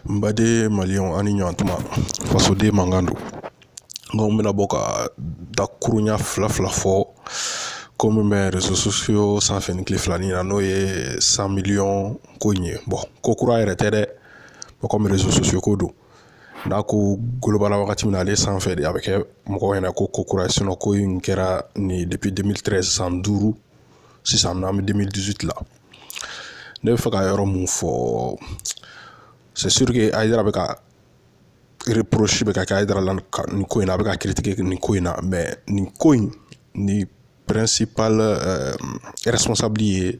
N baden maliyɛnw a' ni ɲantuma fasoden mankan don nko n bɛna bɔ ka dakuruɲa fila fila fɔ ko min bɛ réseaux sociaux sanfɛ nin tile fila in na n'o ye cent millions ko in ye bon ko kura yɛrɛ tɛ dɛ bon comme réseaux sociaux ko don n'a ko golobana wagati min na ale sanfɛ de a bɛ kɛ mɔgɔw ɲɛna ko ko kura ye ko in kɛra nin depuis 2013 san duuru sisan n'an bɛ 2018 la ne bɛ fɛ ka yɔrɔ mun fɔ c'est sûr que Ayidara bɛ ka reproche bɛ ka kɛ Ayidara la nin ko in na a bɛ ka critiquer nin ko in na mais nin ko in ni principal euh, responsable ye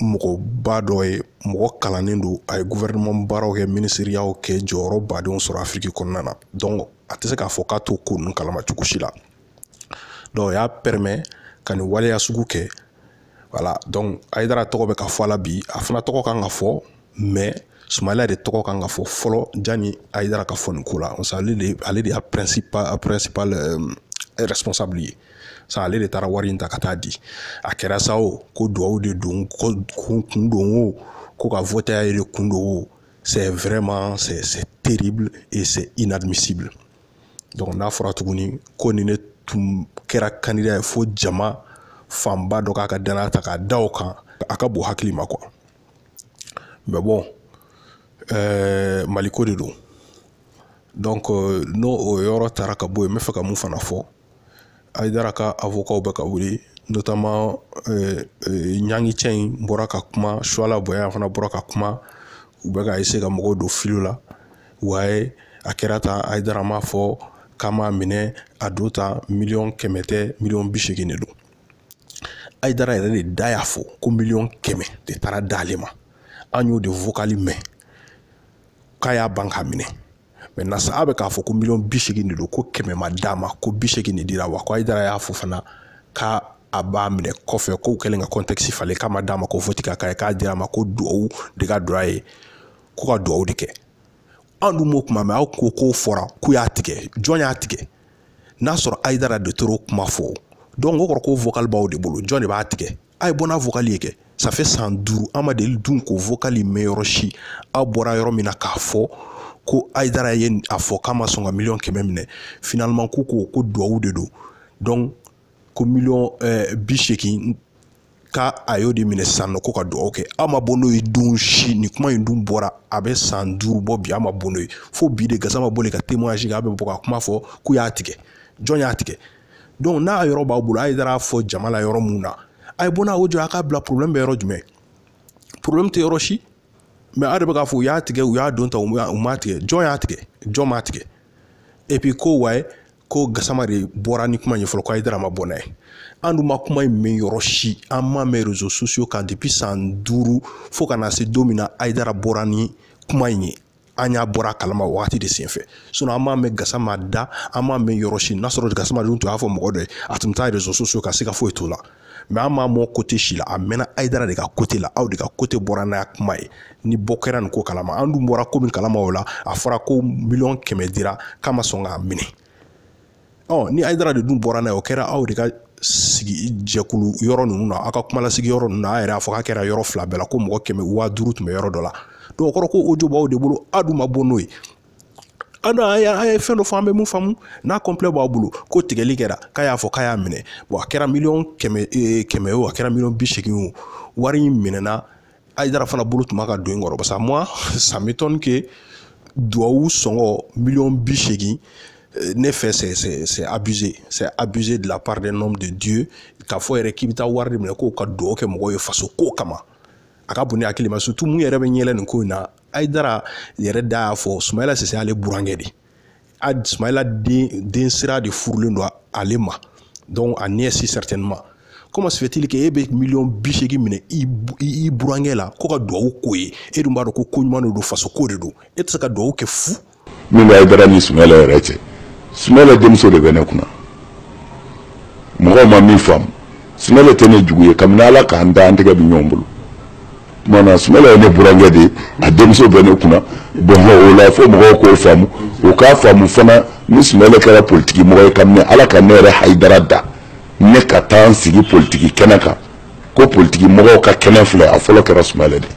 mɔgɔba dɔ ye mɔgɔ kalannen don a ye gouvernement baaraw kɛ minisiriyaw kɛ jɔyɔrɔba dɔw sɔrɔ afiriki kɔnɔna na donc a tɛ se k'a fɔ k'a tɛ ko ninnu kalama cogo si la donc o y'a permet ka nin waleya sugu kɛ voilà donc ayidara tɔgɔ bɛ ka fɔ a la bi a fana tɔgɔ kan ka fɔ mais sumayila de tɔgɔ kan ka fɔ fɔlɔ jani ayidara ka fɔ nin ko la ale de ale de y'a principal a principal euh, responsable ye sa ale de taara wari in ta ka taa di a kɛra sa o ko duwawu de don ko kun don o ko ka vote y'a yɛrɛ kun don o c'est vraiment c'est c'est terrible et c'est inadmissible donc n'a fɔra tuguni ko ni ne tun kɛra candidat ye fo jama fanba dɔ k'a ka danaya ta k'a da o kan a ka bon hakili ma quoi mais bon ɛɛ mali ko de don donc n'o o yɔrɔ taara ka bɔ yen n bɛ fɛ ka mun fana fɔ ayidara ka awokaw bɛ ka wuli notamment ɲangi cɛ in bɔra ka kuma suwala bayaya fana bɔra ka kuma u bɛ ka eseye ka mɔgɔw don fili la ouais a kɛra tan ayidara m'a fɔ k'a m'a minɛ a don ta miliyɔn kɛmɛ tɛ miliyɔn bi seegin de don ayidara yɛrɛ de da y'a fɔ ko miliyɔn kɛmɛ de taara d'ale ma an y'o de vocal mɛn k'a y'a ban k'a minɛ maintenant sa a bɛ k'a fɔ ko miliyɔn bi seegin de don ko kɛmɛ ma d'a ma ko bi seegin de dira wa ko ayidara y'a fɔ fana ka a b'a minɛ kɔfɛ k'u kɛlen ka kɔntɛkisi falen k'a ma d'a ma ko vote ka k'a ye k'a dira a ma ko duwawu de ka don a ye ko ka duwawu de kɛ an dun m'o kuma mɛn aw ko k'o fɔra k'u y'a tigɛ jɔn y'a tigɛ n'a sɔrɔ ayidara de tun y'o kuma fɔ donc o kɔrɔ ko vocal b'aw de bolo jɔn de b'a tigɛ a ye bɔ n'a vocal ye kɛ ça fait san duuru an ma deli dun k'o vocal in mɛn yɔrɔ si aw bɔra yɔrɔ min na k'a fɔ ko ayidara ye a fɔ k'a ma sɔn ka miliyɔn kɛmɛ minɛ finalement k'u ko ko duwawu de don donc ko miliyɔn eh, bi seegin k'a a y'o de minɛ sisan nɔ ko ka dugawu kɛ aw ma bɔ n'o ye don si nin kuma in dun bɔra a bɛ san duuru bɔ bi aw ma bɔ n'o ye fo bi de gasama bɔli ka témoignage kɛ a bɛ bɔ ka kuma fɔ k'u y'a tigɛ jɔn y'a tigɛ donc n'a yɔrɔ b'aw bolo a ye taa a fɔ jama la yɔrɔ mun na a ye bɔ n'a ko jɔ a k'a bila problème bɛ yɔrɔ jumɛn problème tɛ yɔrɔ si mais a de bɛ k'a fɔ u y'a tigɛ u y'a don ta u m'a tigɛ jɔn y'a tigɛ jɔn m'a tigɛ et puis ko wayi ko gasama de bɔra ni kuma ye fɔlɔ ko ayidara ma bɔ n'a ye an dun ma kuma in mɛn yɔrɔ si an m'a mɛn réseaux sociaux kan depuis san duuru fo ka na se don min na ayidara bɔra ni kuma in ye an y'a bɔra a kalama wagati de senfɛ sinon an m'a mɛn gasama da an m'a mɛn yɔrɔ si n'a sɔrɔ gasama dun tun y'a fɔ mɔgɔ dɔ ye a tun bɛ taa réseaux sociaux kan siga foyi t'o la mais an m'a mɛn côté si la a mɛnna ayidara de ka côté la aw de ka côté bɔra n'a kuma ye ni bɔ kɛra nin ko kalama an dun bɔra ko min kalama o la a fɔra ko miliyɔn kɛmɛ dira k'a ma sɔn k'a minɛ ɔ ni ayidara de dun bɔra n'a ye o kɛra aw de ka sigi jɛkulu yɔrɔ ninnu na aw ka kumalasigi yɔrɔ ninnu na a yɛrɛ a fɔ k'a kɛra yɔrɔ fila bɛɛ la ko mɔgɔ kɛmɛ waa duuru tun bɛ yɔrɔ dɔ la dɔw kɔrɔ ko o yɔrɔ b'aw de bolo aw dun ma bɔ n'o ye an don an y'a ye fɛn dɔ fɔ an bɛ min faamu n'a complet b'a bolo ko tigɛli kɛra k'a y'a fɔ k'a y'a minɛ bon a kɛra miliyɔn kɛmɛ eh, kɛmɛ o a kɛra miliyɔn bi seegin o wari in minɛna ayidara fana bolo tun b'a ka don in kɔrɔ parce que moi ça m'étonne que duwawu sɔngɔ miliyɔn bi seegin eh, ne fɛ c'est c'est c'est abusé c'est abusé de la part d'un homme de Dieu k'a fɔ yɛrɛ k'i bɛ taa wari de minɛ ko ka duwawu kɛ mɔgɔw ye faso ko kama a ka bon ne hakili ma surtout min yɛrɛ bɛ n yɛlɛ nin ko in na ayidara yɛrɛ da y'a fɔ sumayila sise ale burankɛ de a sumayila den den sira de furulen don ale ma donc a nièce certainement comment se fait-il que e bɛ miliyɔn bi seegin minɛ i i burankɛ la ko ka duwawu k'o ye e dun b'a dɔn ko ko ɲuman de don faso ko de don e tɛ se ka duwawu kɛ fu min ka Ayidara ni Sumayila yɛrɛ cɛ Sumayila denmuso de bɛ ne kunna mɔgɔw ma min faamu Sumayila tɛ ne jugu ye kabini Ala k'an da an tɛgɛ bɛ ɲɔgɔn bolo tuma na Sumayila ye ne burankɛ de ye a denmuso bɛ ne kunna bon o la fo mɔgɔw k'o faamu o k'a faamu fana ni Sumayila kɛra politiki mɔgɔ ye kabini Ala ka ne yɛrɛ Ayidara da ne ka taa n sigi politiki kɛnɛ kan ko politiki mɔgɔw ka kɛnɛ filɛ a fɔlɔ kɛra Sumayila de ye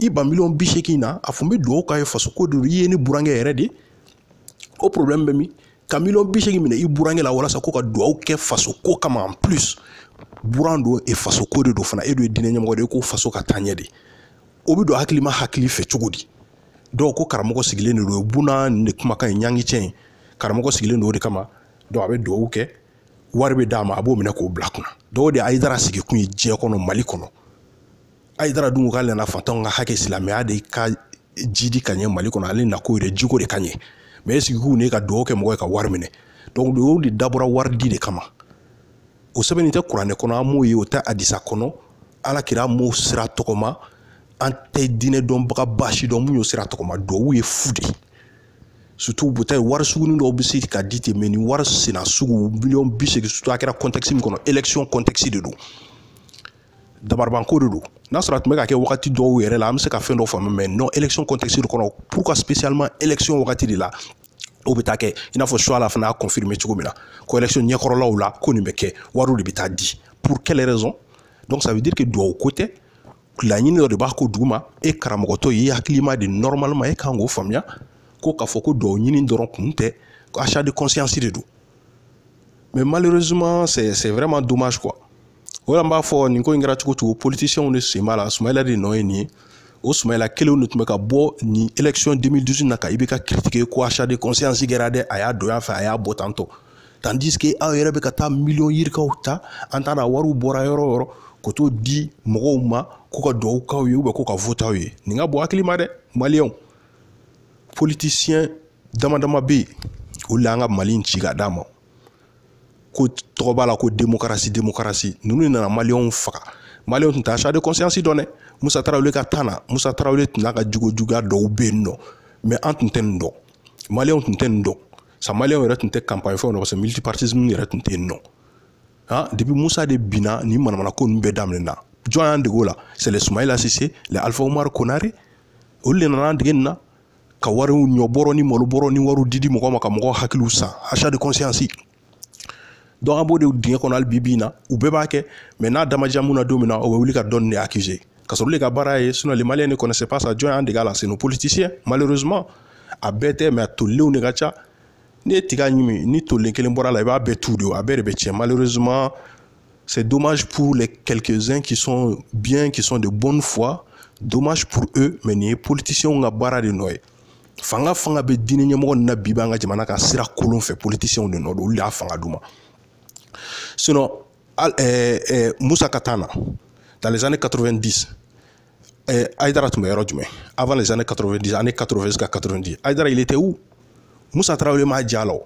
i ba miliyɔn bi seegin na a tun bɛ dugawu k'a ye faso ko don i ye ne burankɛ yɛrɛ de o problème bɛ min ka miliyɔn bi seegin minɛ i burankɛ la walasa ko ka dugawu kɛ faso ko kama en plus buran don e faso ko de don fana e dun ye diinɛ ɲɛmɔgɔ de ye ko faso ka taa ɲɛ de o bɛ don hakilima hakili fɛ cogo di dɔw ko karamɔgɔ sigilen de don buna nin de kumakan ye ɲangi cɛ in karamɔgɔ sigilen don o de kama dɔw a bɛ dugawu kɛ wari bɛ d'a ma a b'o minɛ k'o bila kunna dɔw de ye ayidara sigi kun ye diɲɛ kɔnɔ mali kɔnɔ ayidara dun k'ale nana faantanw ka hakɛ silamɛya de ka jidi ka ɲɛ mali kɔnɔ ale nakun yɛrɛ jiko de ka ɲɛ mais est-ce que ko ne ka dugawu kɛ mɔgɔ ye ka wari minɛ donc o de dabɔra wari di de kama o sɛbɛnni tɛ kuranɛ kɔnɔ an m'o ye o tɛ hadisa kɔnɔ ala kira m'o sira tɔgɔma an tɛ diinɛ dɔnbaga ba si dɔn min y'o sira tɔgɔma duwawu ye fu de ye surtout buta ye wari sugunin dɔw bɛ se ka di ten mais nin wari sina sugu miliyɔn bi seegin surtout a kɛra kɔntɛkisi min kɔnɔ elekisiyɔn kɔntɛkisi de don dabaribanko de don n'a sɔrɔ a tun bɛ ka kɛ wagati dɔw yɛrɛ la an bɛ se ka fɛn dɔ faamu mais non élection contexte de kɔnɔ pourquoi spécialement élection wagati de la o bɛ taa kɛ i n'a fɔ chouala fana y'a confirmer cogo min na ko élection ɲɛkɔrɔlaw la ko nin bɛ kɛ wariw de bɛ taa di pour quelle raison donc ça veut dire que duwawu ko tɛ laɲini dɔ de b'a kɔ duguma e karamɔgɔtɔ ye hakilima de normalement e kan k'o faamuya ko k'a fɔ ko duwawu ɲini dɔrɔn kun tɛ achat de conscience de don mais malheureusement c'est c'est vraiment dommage quoi o la n b'a fɔ nin ko in kɛra cogo o cogo politisiyɛnw de sen b'a la sumayila de nɔ ye nin ye o sumayila kelenw de tun bɛ ka bɔ nin election 2012 na ka IBK critiquer ko achat de conscience kɛra dɛ a y'a don a fɛ a y'a bɔ tantɔ tandis que aw yɛrɛ bɛ ka taa miliyɔn yirikaw ta an t'a dɔn a wariw bɔra yɔrɔ o yɔrɔ ka t'o di mɔgɔw ma k'u ka dugawu k'aw ye ou bien k'u ka vote aw ye nin ka bon hakili ma dɛ maliyɛnw politisiyɛn dama dama bɛ yen olu de y'an ka mali in ci ka d'a ma ko tɔgɔ b'a la ko demokarasi demokarasi ninnu de nana maliyɛnw faga maliyɛnw tun tɛ achat de conscience dɔn dɛ musa tarawele ka tan na musa tarawele tun n'a ka jogo juguya dɔw bɛ yen nɔ mɛ an tun tɛ nin dɔn maliyɛnw tun tɛ nin dɔn sa maliyɛnw yɛrɛ tun tɛ kanpaɲi fɛnw na parce que multipartisme yɛrɛ tun tɛ yen nɔ han depuis musa de binna nin manamana ko ninnu bɛɛ daminɛna jɔn y'an dege o la c'est les sumayila sise les alifa umaru konare olu de nana an dege nin na ka wariw ɲɔbɔrɔ ni malobɔrɔ ni wariw didi mɔgɔ ma ka mɔgɔw hakiliw san achat de conscience donc an b'o de dingɛ kɔnɔ hali bi bi in na u bɛɛ b'a kɛ mais n'a da ma diya min na don min na o bɛ wuli ka dɔ nin de accuser ka sɔrɔ olu ka baara ye sinon les maliens ne connaissaient pas ça jɔn y'an dege a la c'est nos politiciens malheureusement a bɛɛ tɛ mais a tolilenw de ka ca n'i ye tiga ɲimi ni tolen kelen bɔr'a la i b'a bɛɛ tu de a bɛɛ de bɛ tiɲɛ malheureusement c'est dommage pour les quelques-uns qui sont bien qui sont de bonne foi dommage pour eux mais nin ye politiciens ka baara de nɔ ye fanga fanga bɛ diinɛ ɲɛmɔgɔ ninnu na bi b'an ka jamana kan sira kolon fɛ politiciens de nɔ don olu de ye fanga d'u ma sinon al ɛɛ ɛɛ musa ka tan na dans les années 90 Eh, Aïdara tun bɛ yɔrɔ jumɛn avant les années 90 années 80 jusqu'à 90 Aïdara il était où Moussa Traoré m'a diy'a la o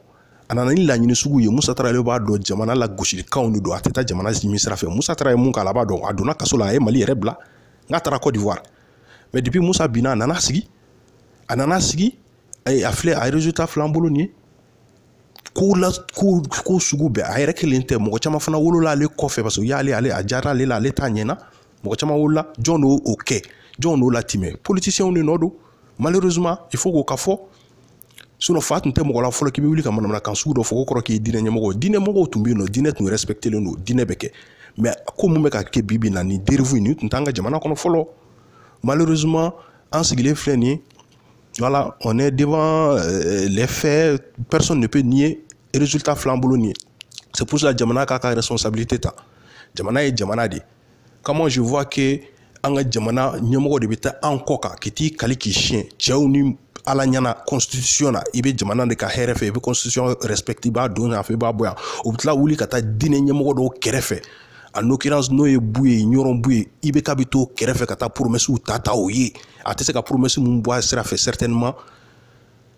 a nana ni laɲini sugu ye Moussa Traoré b'a dɔn jamana lagosilikanw de don a tɛ taa jamana ɲini sira fɛ Moussa Traoré ye mun k'a la a b'a dɔn a donna kaso la a ye Mali yɛrɛ bila n'a taara Côte d'Ivoire mais depuis Moussa binna a nana sigi a nana sigi a filɛ a ye résultat fil'an bolo nin ye ko la ko ko sugu bɛɛ a yɛrɛ kelen tɛ mɔgɔ caman fana wolola ale kɔfɛ parce que u y'ale ale a diyara ale la ale t'a ɲɛna mɔgɔ caman wolola jɔn de y'o kɛ jɔn de y'o latimɛ politisiyɛnw de nɔ don malheureusement il faut k'o ka fɔ sinon fa tun tɛ mɔgɔ la fɔlɔ k'i bɛ wuli ka manamanakan sugu dɔ fɔ k'o kɔrɔ k'i ye diinɛ ɲɛmɔgɔ ye diinɛ mɔgɔw tun bɛ yen nɔ diinɛ tun respectelen don diinɛ bɛ kɛ mais ko min bɛ ka kɛ bi bi na nin dérive nin tun t'an ka jamana kɔnɔ fɔlɔ malheureusement an sigilen filɛ nin ye voilà on est devant euh, les faits personne ne peut nier résultat filɛ an bolo nin ye c'est pour ça jamana k'a ka responsabilité ta jamana ye jamana de ye comment je vois que an ka jamana ɲɛmɔgɔ de bɛ taa an kɔ kan k'i t'i kali k'i siɲɛ cɛw ni ala ɲɛna constitution na i bɛ jamana de ka hɛrɛ fɛ i bɛ constitution respecter i b'a don yan fɛ i b'a bɔ yan u bɛ tila wuli ka taa diinɛ ɲɛmɔgɔ dɔw kɛrɛfɛ en l'occurrence n'o ye buye ɲɔrɔn buye i bɛ ka bi t'o kɛrɛfɛ ka taa promɛsiw ta ta o ye a tɛ se ka promɛsi min bɔ a sira fɛ certainement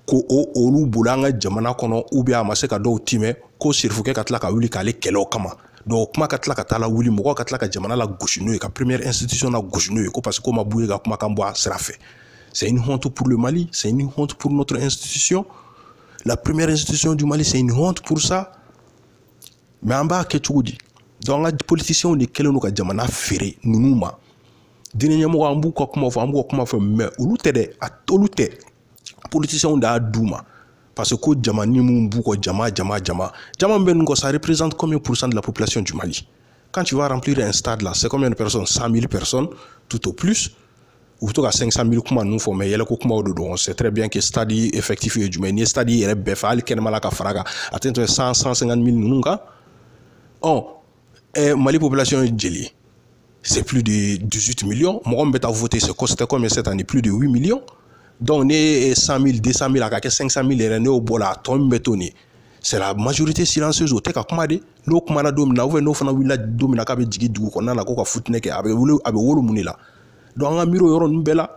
ko o olu bolo an ka jamana kɔnɔ u bɛ a ma se ka dɔw timɛ ko sirifukɛ ka tila ka wuli k'ale kɛlɛ o kama dɔw kuma ka tila ka taa lawuli mɔgɔw ka tila ka jamana lagosi n'o ye ka première institution lagosi n'o ye ko parce que k'o ma buye ka kumakan bɔ a sira fɛ c'est une honte pour le Mali c'est une honte pour notre institution la première institution du Mali c'est une honte pour ça mais an b'a kɛ cogo di donc an ka politiciens de kɛlen don ka jamana feere ninnu ma diinɛ ɲɛmɔgɔ an b'u ka kuma fɔ an b'u ka kuma fɔ mais olu tɛ dɛ a olu tɛ politiciens de y'a d'u ma parce que ko jama nin min b'u kɔ jama jama jama jama min bɛ nin kɔ ça représente combien pour cent de la population du Mali quand tu vas remplir un stade là c'est combien de personnes 100 000 personnes tout au plus u bɛ to ka 500 000 kuma ninnu fɔ mais yɛlɛko kumaw de don on sait très bien que stade effectif ye jumɛn n'i ye stade yɛrɛ bɛɛ fa hali kɛnɛma la ka far'a kan a tɛ tɛmɛ 100 150 000 ninnu kan ɔ eh, mali population ye jeli ye c'est plus de 18 millions mɔgɔ min bɛ taa voter c'est costé comme cette année plus de 8 millions donc n'i ye 100 000 200 000 a ka kɛ 500 000 yɛrɛ n'i y'o bɔ a la a tɔ min bɛ to nin c'est la majorité silencieuse o tɛ ka kuma de n'o kumana don min na n'o fana wulila don min na k'a bɛ jigin dugu kɔnɔna na k'o ka futinɛ kɛ a bɛ wolo a bɛ wolo mun de la donc an ka miiri o yɔrɔ ninnu bɛɛ la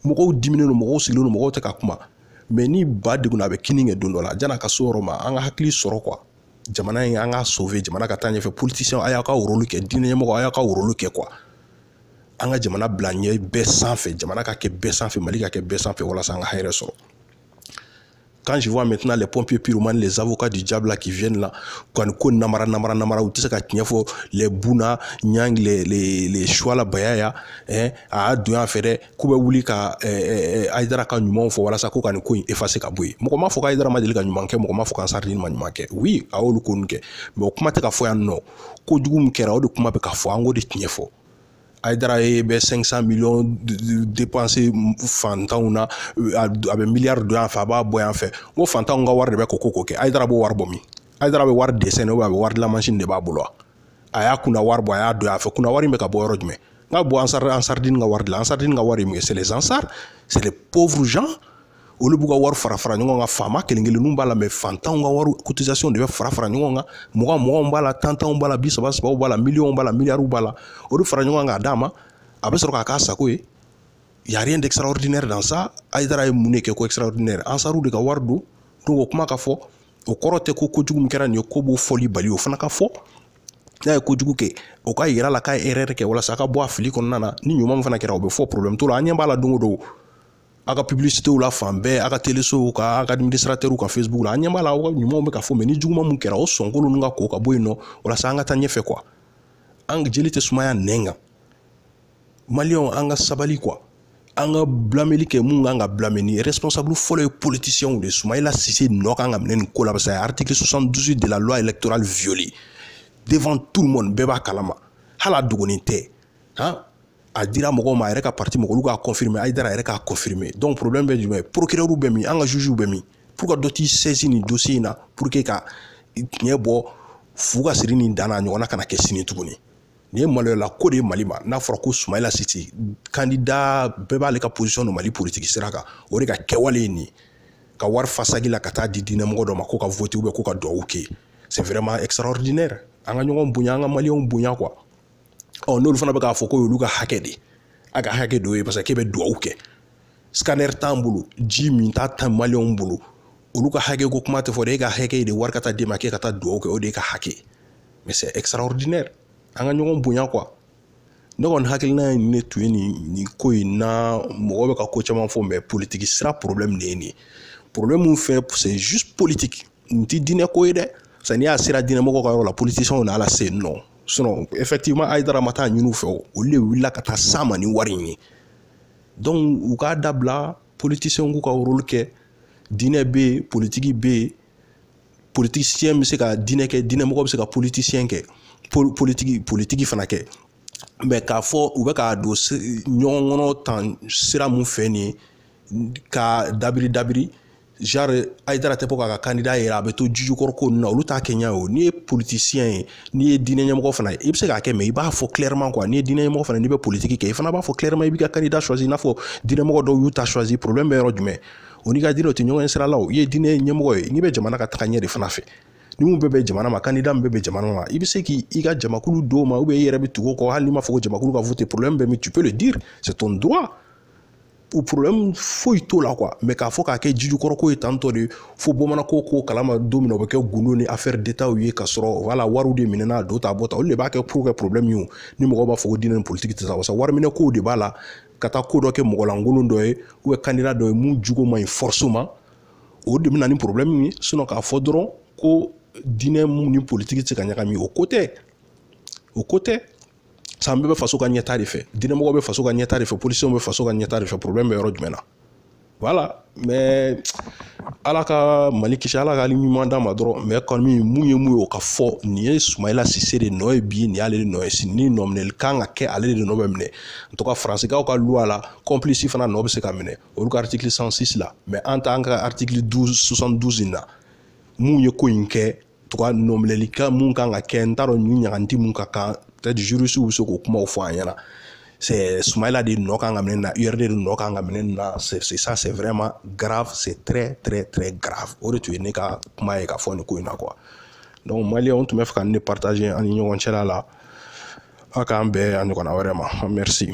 mɔgɔw diminnen don mɔgɔw sigilen don mɔgɔw tɛ ka kuma mais ni ba degunna a bɛ kinni kɛ don dɔ la yanni a ka s'o yɔrɔ ma an ka hakili sɔrɔ quoi jamana in an k'a sauver jamana ka taa ɲɛfɛ politisiyɛn a y'a ka rôle kɛ diinɛ ɲɛmɔgɔ a y'a ka rôle kɛ quoi an ka jamana bila ɲɛ bɛɛ sanfɛ jamana ka kɛ bɛɛ sanfɛ mali ka kɛ bɛɛ sanfɛ walasa an ka hɛrɛ sɔrɔ quand je vois maintenant les pompiers pyromanes les avocats du diable là qui viennent là kɔni ko namara namara namara u tɛ se ka tiɲɛ fɔ les buna nyang les les les chouala bayaya hein a y'a don yan fɛ dɛ k'u bɛ wuli ka ayidara ka ɲumanw fɔ walasa ko ka nin ko in efase ka bɔ yen mɔgɔ m'a fɔ k'ayidara ma deli ka ɲuman kɛ mɔgɔ m'a fɔ k'ansardini ma ɲuman kɛ wi a y'olu ko nun kɛ mɛ o kuma tɛ ka fɔ yan nɔ ko jugu min kɛra o de kuma bɛ ka fɔ an k'o de tiɲɛ fɔ ayidara ye bɛ 500 miliyɔn depanse fantanw na a bɛ miliyari don yan fɛ a b'a bɔ yan fɛ ko fantanw ka wari de bɛ ko ko ko kɛ ayidara b'o wari bɔ min ayidara bɛ wari desine a bɛ wari dilanmansin de b'a bolo a y'a kunna wari bɔ a y'a don a fɛ kunna wari in bɛ ka bɔ yɔrɔ jumɛn n ka bɔ ansar ansardini ka wari la ansardini ka wari ye mun ye c'est les ansar c'est les pauvres gens olu b'u ka wari fara fara ɲɔgɔn kan faama kelen kelenninw b'a la mɛ fantanw ka wari cotisation de bɛ fara fara ɲɔgɔn kan mugan muganw b'a la tan tanw b'a la bi saba sabaw b'a la miliyɔnw b'a la miliyariw b'a la o de fara ɲɔgɔn kan k'a d'a ma a bɛ sɔrɔ k'a k'a sago ye y a rien d'extraordinaire dans ça ayidara ye mun de kɛ ko extraordinaire ansaru de ka wari don donc o kuma ka fɔ o kɔrɔ tɛ ko kojugu min kɛra nin ye k'o b'o fɔli bali o fana ka fɔ n'a ye kojugu kɛ o ka yira la k'a ye erɛrɛ kɛ walasa a ka bɔ a fili kɔnɔna na ni ɲuman min fana kɛra o bɛ fɔ porobilɛmu t'o la an ɲɛ b'a la don o don a ka pibilisitew la fan bɛɛ a ka telesow ka a ka administratɛriw ka fesibuku la an ɲɛ b'a la aw ka ɲumanw bɛ ka fɔ mɛ ni juguman mun kɛra o sɔnkolon ninnu ka ko ka bɔ yen nɔ walasa an ka taa ɲɛfɛ kuwa an jeli tɛ sumaya nɛn kan maliyɛnw an ka sabali kuwa an ka bilameli kɛ mun ka kan ka bilame ni responsable fɔlɔ ye politisiyɛnw de sumayila sise nɔ ka kan ka minɛ nin ko la parce que a ye article 72 de la loi électorale violée devant tout le monde bɛɛ b'a kalama hali a dogonin tɛ han a dira mɔgɔw ma a yɛrɛ ka parti mɔgɔ olu k'a confirmer ayidara a yɛrɛ k'a confirmer donc problème bɛ jumɛn ye procureur bɛ min an ka jugew bɛ min pourquoi dɔ t'i saisi nin dossier in na pour que ka tiɲɛ bɔ fu ka siri nin dan na a ɲɔgɔnna kana kɛ sini tuguni nin ye maloyala ko de ye mali ma n'a fɔra ko sumayila sise kandida bɛɛ b'ale ka posisɔn dɔn mali politiki sira kan o de ka kɛwale ye nin ka wari fa saki la ka taa di diinɛmɔgɔ dɔ ma ko ka vote ubiyɛn ko ka duwawu kɛ c'est vraiment extraordinaire an ka ɲɔgɔn bonya an ka maliyɛnw bonya kuwa ɔ n'olu fana bɛ k'a fɔ k'o y'olu ka hakɛ de a ka hakɛ don ye parce que k'e bɛ duwawu kɛ scanner t'an bolo ji minta tɛ maliyɛnw bolo olu ka hakɛ ko kuma tɛ fɔ dɛ e ka hakɛ de wari ka taa d'e ma k'e ka taa dugawu kɛ o de ye ka hakɛ mais c'est extraordinaire an ka ɲɔgɔn bonya quoi ne kɔni hakilina ye ne tun ye nin nin ko in na mɔgɔ bɛ ka ko caman fɔ mɛ politiki sira problème de ye nin ye problème min fɛ c'est juste politique nin tɛ diinɛ ko ye dɛ parce que n'i y'a ye a sera diinɛmɔgɔw ka yɔrɔ la politiciens na a lase yen nɔ sinon effectivement ayidara ma taa ɲini u fɛ olu de wulila ka taa s'a ma ni wari in ye donc u k'a dabila politisiyɛnw k'u ka role kɛ diinɛ bɛ yen politiki bɛ yen politisiyɛn bɛ se ka diinɛ kɛ diinɛmɔgɔ bɛ se ka politisiyɛn kɛ politiki politiki fana kɛ mɛ k'a fɔ u bɛ k'a don ɲɔgɔn kɔnɔ tan sira mun fɛ nin ye ka dabiri dabiri genre ayidara tɛ bɔ k'a ka kandida yira a bɛ to jijukɔrɔ ko ninnu na olu t'a kɛ ɲɛ o n'i ye politisiyɛn ye n'i ye diinɛ ɲɛmɔgɔ fana ye i bɛ se k'a kɛ mais i b'a fɔ clairement quoi n'i ye diinɛ ɲɛmɔgɔ fana n'i bɛ politiki kɛ i fana b'a fɔ clairement i b'i ka kandida choisi i n'a fɔ diinɛmɔgɔ dɔw y'u ta choisi problème bɛ yɔrɔ jumɛn o n'i ka diinɛ o tɛ ɲɔgɔn sira la o i ye diinɛ ɲɛmɔgɔ ye n'i bɛ jamana ka taga ɲɛ de fana fɛ ni mun bɛ bɛn jamana ma kandida min bɛ bɛn jamana ma i bɛ se k'i i ka jamakulu d'o ma ou bien i yɛrɛ bɛ tugu o kɔ hali n'i ma fɔ ko jamakulu ka vote problème bɛ min tu peux le dire c'est ton droit o problème foyi t'o la quoi mais k'a fɔ k'a kɛ jijukɔrɔ ko ye tantɔ de fo bamananko ko kalama don min o bɛ kɛ gundo ni affaire d'état ye ka sɔrɔ wala wariw de minɛna a don ta bɔ ta olu de b'a kɛ pour kɛ problème ye ni mɔgɔw b'a fɔ ko diinɛ ni politique tɛ sa wasa wariminɛ kow de b'a la ka taa ko dɔ kɛ mɔgɔlankolon dɔ ye ou candidat dɔ ye mun jogo man ɲi force ma o de bɛna ni problème ye sinon k'a fɔ dɔrɔn ko diinɛ mun ni politique tɛ se ka ɲagami o ko tɛ o ko tɛ sa an bɛɛ bɛ faso ka ɲɛtaa de fɛ diinɛmɔgɔ bɛ faso ka ɲɛtaa de fɛ polisiw bɛ faso ka ɲɛtaa de fɛ problème bɛ yɔrɔ jumɛn na voilà mais ala ka mali kisi ala ka ɲuman d'a ma dɔrɔn mais kɔni mun ye mun ye o ka fɔ nin ye sumayila sise de nɔ ye bi nin y'ale de nɔ ye sini ni nɔminɛli kan ka kɛ ale de nɔ bɛ minɛ en tout cas faransikaw ka luwa la kɔnplisi fana nɔ bɛ se ka minɛ olu ka artikili 106 la mais an ta an ka artikili 12 72 in na mun ye ko in kɛ tout cas nɔminɛli kan mun kan ka kɛ n t'a dɔn nin ɲangata mun ka kan peut-être jurisiw bɛ se k'o kumaw fɔ an ɲɛna c'est Soumaïla de nɔ kan ka minɛ na URD de nɔ kan ka minɛ na c'est ça c'est vraiment grave c'est très très très grave o de tun ye ne ka kuma ye ka fɔ nin ko in na quoi donc maliyɛnw n tun b'a fɛ ka nin partager an ni ɲɔgɔn cɛ la ala k'an bɛn a ɲɔgɔnna wɛrɛ ma merci